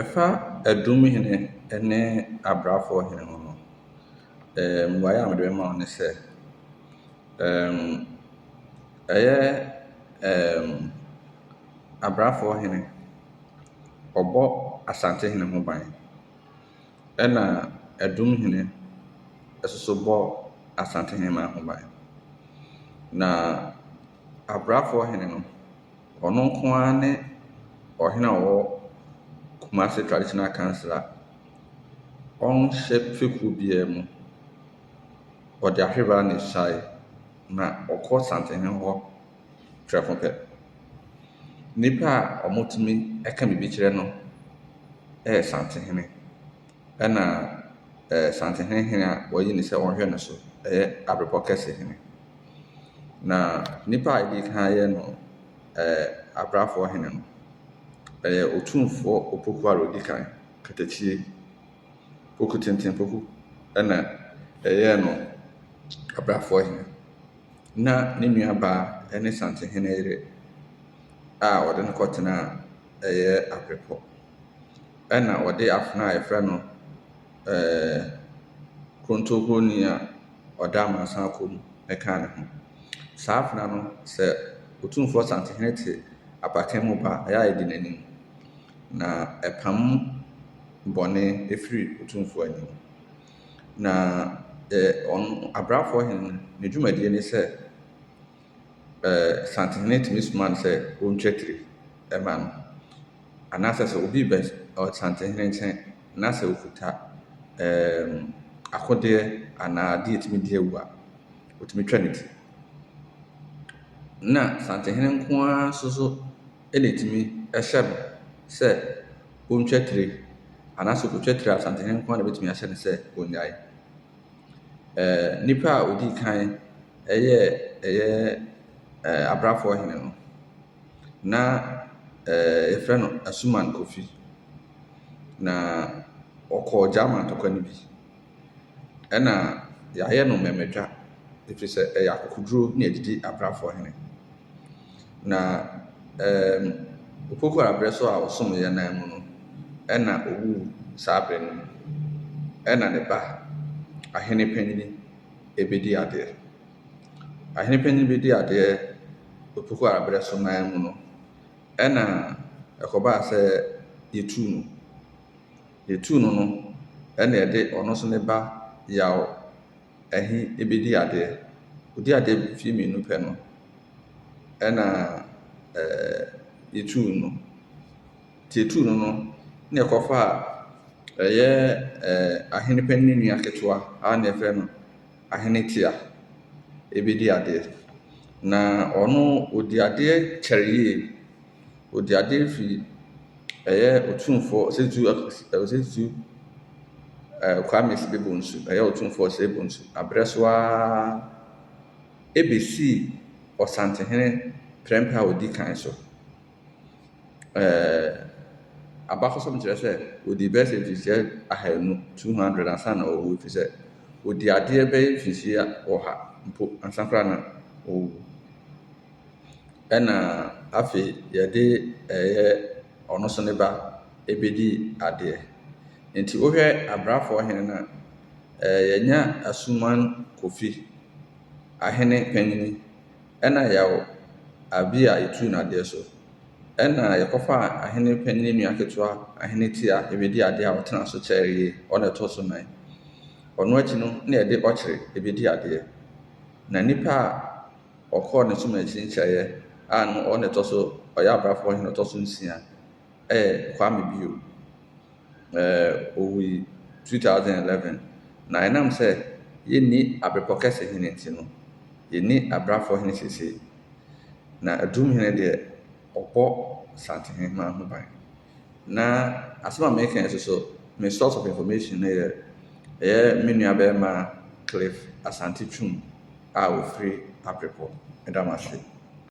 Ɛfa ɛdum hene ɛne abraafoɔ hene ho no, mmuaeɛ a mede bɛma wo ne sɛ, ɛyɛ abraafoɔ hene, ɔbɔ Asante hene ho ban. Ɛna ɛdum hene nso bɔ Asante hemaa ho ban. Na abraafoɔ hene no. Ɔno nko ara ne ɔhene a ɔwɔ Kumasi Traditional Council a ɔnhyɛ fekuo biara mu. Ɔde ahwerewa na ɛsuaeɛ, na ɔkɔ santehene hɔ prɛko pɛ. Nnipa a wɔtumi ka biribi kyerɛ no yɛ santehene. Ɛna Asantehene hene a wɔayi no sɛ ɔnhwɛ no so yɛ Abepɔ Kɛse hene. Na nipa a edi kan yɛ no Abrafoɔ hene no, ɛyɛ Otumfoɔ Opoku ara ɔdi kan, Katakyie, Poku Tenten Poku na ɛyɛɛ no Abrafoɔ hene. Na ne nua baa ne Santehene yere a ɔde no kɔtenaa ɛyɛ Abrepɔ. ɛna ɔde afena a yɛfrɛ no kontokuronin a ɔda amansan kɔ mu ka ne ho. Saa afena no, sɛ Otumfoɔ Asantehene te abakɛn mu ba a, ɛyɛ a ɛdi n'anim, na ɛpam bɔne firi Otumfoɔ anim. Na ɛ ɔno Abrafoɔhene no, ne dwumadie ne sɛ. ɛɛ Santenhene tumi soma no sɛ ɔntwa tire ma no. Anaasɛ sɛ obi rebɛ ɔ Santenhene nkyɛn na sɛ ɔkuta ɛɛm akodeɛ anaa adeɛ a ɛtumi di awu a, ɔtumi twa ne ti. Na Santenhene nko ara nso so na ɛtumi hyɛ no sɛ ɔntwa tire. Anaasɛ ɔkɔtwa tire a, Santenhene nko ara na ɔbɛtumi ahyɛ no sɛ ɔnnyae. Nipa a ɔdi kan yɛ ɛyɛ abrabfoɔ hene no, na yɛfrɛ no Asuman Kofi. Na ɔkɔɔ Gyama ntɔkwa no bi. Ɛna yɛayɛ no mmɛmɛɛtwa ɛfiri sɛ ɛyɛ akokoduro na ɛdidi abrabfoɔ hene. Na ɛɛm Opoku aberɛ so a ɔsom yɛn nan mu no, ɛna owuu saa aberɛ no mu. Ɛna ne ba, ahene panin, ɛbɛdi adeɛ. Ahene panin bɛdi adeɛ Opoku aberɛ so nan mu no, ɛna ɛkɔbaa sɛ yɛtuu no. Yɛtuu no no, ɛna ɛde ɔno nso ne ba Yaw. ɛhe ɛbɛdi adeɛ. Ɔdi adeɛ mfeɛ mmienu pɛ no, ɛna yɛtuu no. Nti yɛtuu no no, na yɛkɔfa ɛyɛ ahene panin nua ketewa a na yɛfrɛ no Ahene Tea bɛdi adeɛ. Na ɔno ɔdi adeɛ kyɛre yie. Ɔde adeɛ firi ɛyɛ Otumfoɔ Ɔsatu Ɔsatu ɛɛ Kwame Sede Bonsu ɛyɛ Otumfoɔ Osei Bonsu abrɛ so ara ɛbɛsii Ɔsantehene prɛmpɛ a ɔdi kan so. Ɛɛɛ abakɔsɛm kyerɛ sɛ ɔdi bɛyɛ sɛ mfirihyia ahanu, 200, ansa na ɔrewu ɛfiri sɛ ɔdi adeɛ bɛyɛ mfirihyia ɔha mpo ansa koraa na ɔrewu. ɛna afei yɛde ɛyɛ ɔno nso ne ba bɛdi adeɛ. Nti wohwɛ abrafoɔ hene no a, ɛɛ yɛnya Asuman Kofi, ahene panin, ɛna Yaw Abi a yɛtu no adeɛ so, ɛna yɛkɔfa ahene panin nua ketewa Ahene Tia bɛdi adeɛ a ɔtena so kyɛree, ɔna ɛtɔ so nnan. Ɔno akyi no na yɛde Ɔkyere bɛdi adeɛ. Na nnipa a. Ɔkɔɔ ne som akyi nkyeayɛ a no ɔna ɛtɔ so ɔyɛ abrafoɔ hene ɔtɔ so nsia ɛyɛ Kwame bio ɛɛ ɔwui 2011 na ɛnam sɛ yɛ nni abrepɔ kɛse hene nti no yɛ nni abrafoɔ hene sesei na Adum hene deɛ ɔbɔ Asante heheman ho ban. Na asɛm a mereka yi nso so, me source of information no yɛ ɛyɛ me nua barima Cliff Asante Twum a ɔfiri Aprepɔ, meda mo ase.